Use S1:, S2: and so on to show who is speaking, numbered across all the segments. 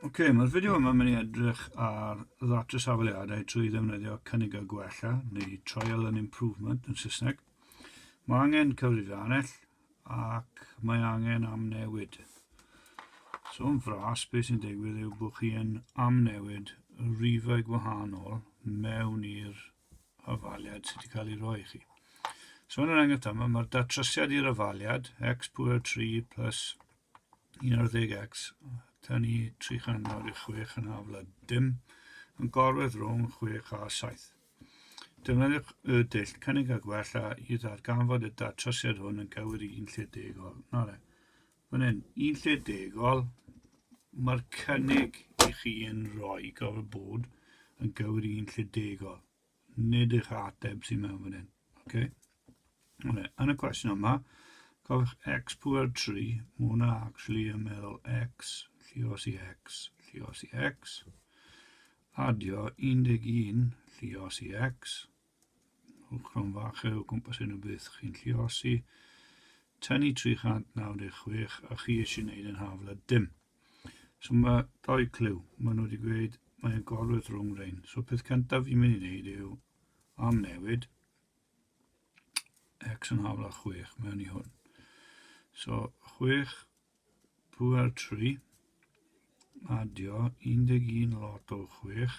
S1: Ok, mae'r fideo yma mynd i edrych ar ddatrys hafaliadau trwy ddefnyddio cynnigau gwella neu trial and improvement yn Saesneg. Mae angen cyfrifiannell ac mae angen amnewid. So yn fras, beth sy'n digwydd yw bod chi yn amnewid rifau gwahanol mewn i'r ofaliad sydd wedi cael ei roi i chi. So yn yr enghraifft yma, mae'r datrysiad i'r ofaliad, x pwyr 3 plus 11x, tan i 300 i 6 yn haflod dim, yn gorwedd rhwng 6 a 7. Defnyddiwch y dull cynnig a gwella i ddarganfod y datrysiad hwn yn gywir i un lle degol. Na le. Fan hyn, un lle degol, mae'r cynnig i chi yn rhoi gofod bod yn gywir i un lle degol. Nid eich ateb sy'n mewn fan hyn. Okay? Yn y cwestiwn yma, cofiwch x pwer 3, mae hwnna actually yn meddwl x, lli os i x, lli os i x, adio 11 lli os i x, Uchron fach o gwmpas hyn o beth chi'n lliosi. Tynnu 396 a chi eisiau gwneud yn hafl a dim. So mae doi clyw. Mae nhw wedi gweud mae'n gorwedd rhwng rhain. So peth cyntaf fi'n mynd i wneud yw am newid x yn hafl a 6 mewn i hwn. So 6 pwer 3 adio 11 lot o 6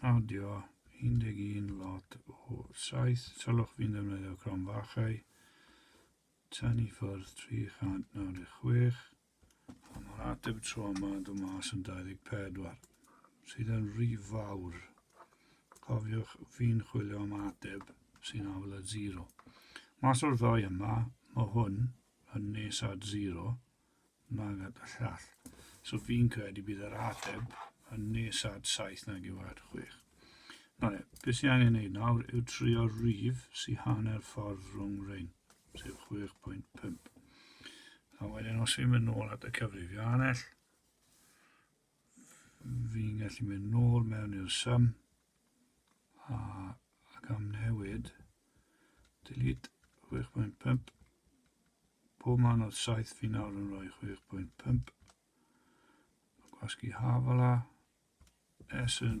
S1: Awdio, 11 lot o 7 salwch fu'n defnyddio cromfachau, tynnu ffwrdd 396, a mae'r ateb tro yma yn dod mas yn 24, sydd yn rhy fawr. Cofiwch, fi'n chwilio am ateb sy'n afel at 0. Mas o'r ddoi yma, mae hwn yn nes at 0, Maged a llall. So fi'n credu bydd yr ateb yn nes at 7 nag yw at 6. Na le, beth sy'n angen ei nawr yw trio rif sy'n hanner ffordd rhwng rhain, sef 6.5. A wedyn os fi'n mynd nôl at y cyfrifiannell, fi'n gallu mynd nôl mewn i'r sum a ac am newid delete 6.5 pob man oedd 7 fi nawr yn rhoi 6.5 gwasgu hafala S yn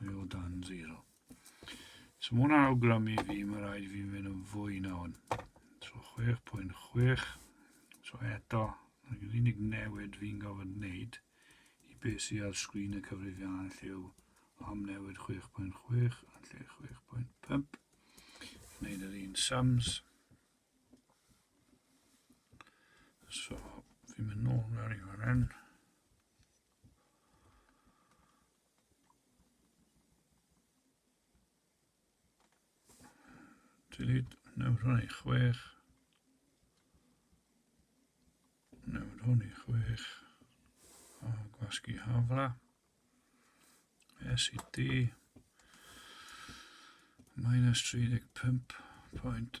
S1: Mae o dan zero. So mae hwnna'n awgrymu fi, mae rhaid i fi mynd yn fwy na hwn. So 6.6. So eto, yr unig newid fi'n gofod wneud i beth sydd ar sgrin y cyfrifiannau lle yw am newid 6.6 a lle 6.5. Wneud yr un sums. So, fi'n mynd nôl mewn i fan hyn. Dylid nawr hwn i chwech. Nawr hwn i chwech. A gwasgu hafla. SED. Minus 35.5.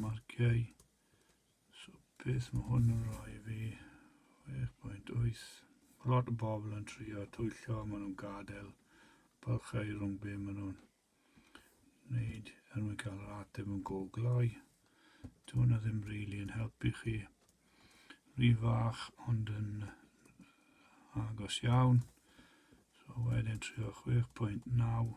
S1: Marciau. So beth mae hwn yn rhoi fi? 6.8. Mae lot o bobl yn trio twyllo, maen nhw'n gadael bylchau rhwng be maen nhw'n wneud er mwyn cael yr ateb yn go gloi. Dyw hwnna ddim rili really yn helpu chi. Rhi fach ond yn agos iawn. So wedyn trio 6.9.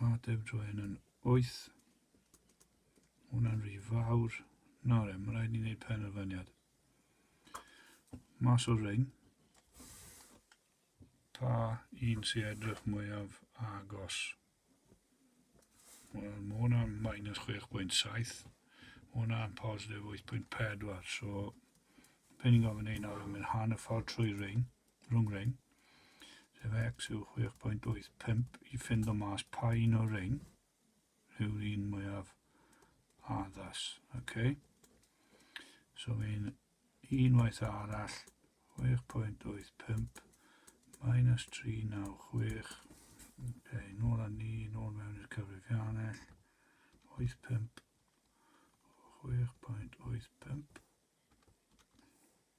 S1: Mae Deb Joen yn 8. Mae hwnna'n rhy fawr. Na re, mae rhaid ni wneud penderfyniad. Mas o'r rhain. Pa un sy'n edrych mwyaf agos? Wel, mae hwnna'n minus 6.7. Mae hwnna'n positif 8.4. So, pe ni'n gofyn ei nawr yn mynd hanner ffordd trwy rhain. rhwng rein, sef x yw 6.85 i ffind o mas pa un o'r rein yw'r un mwyaf addas. Okay? So mae'n unwaith arall 6.85 minus 396 okay, nôl a ni, nôl mewn i'r cyfrifiannell 85 6.85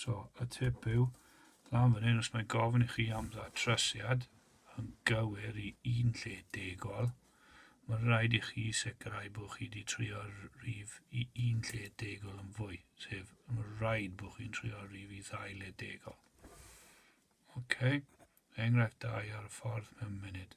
S1: So, y tip yw, lan fan hyn, os mae gofyn i chi am ddatrasiad yn gywir i un lle degol, mae'n rhaid i chi sicrhau bod chi wedi trio'r rif i un lle degol yn fwy, sef mae'n rhaid bod chi'n trio'r rif i ddau le degol. OK, enghraifft da i ar y ffordd mewn munud.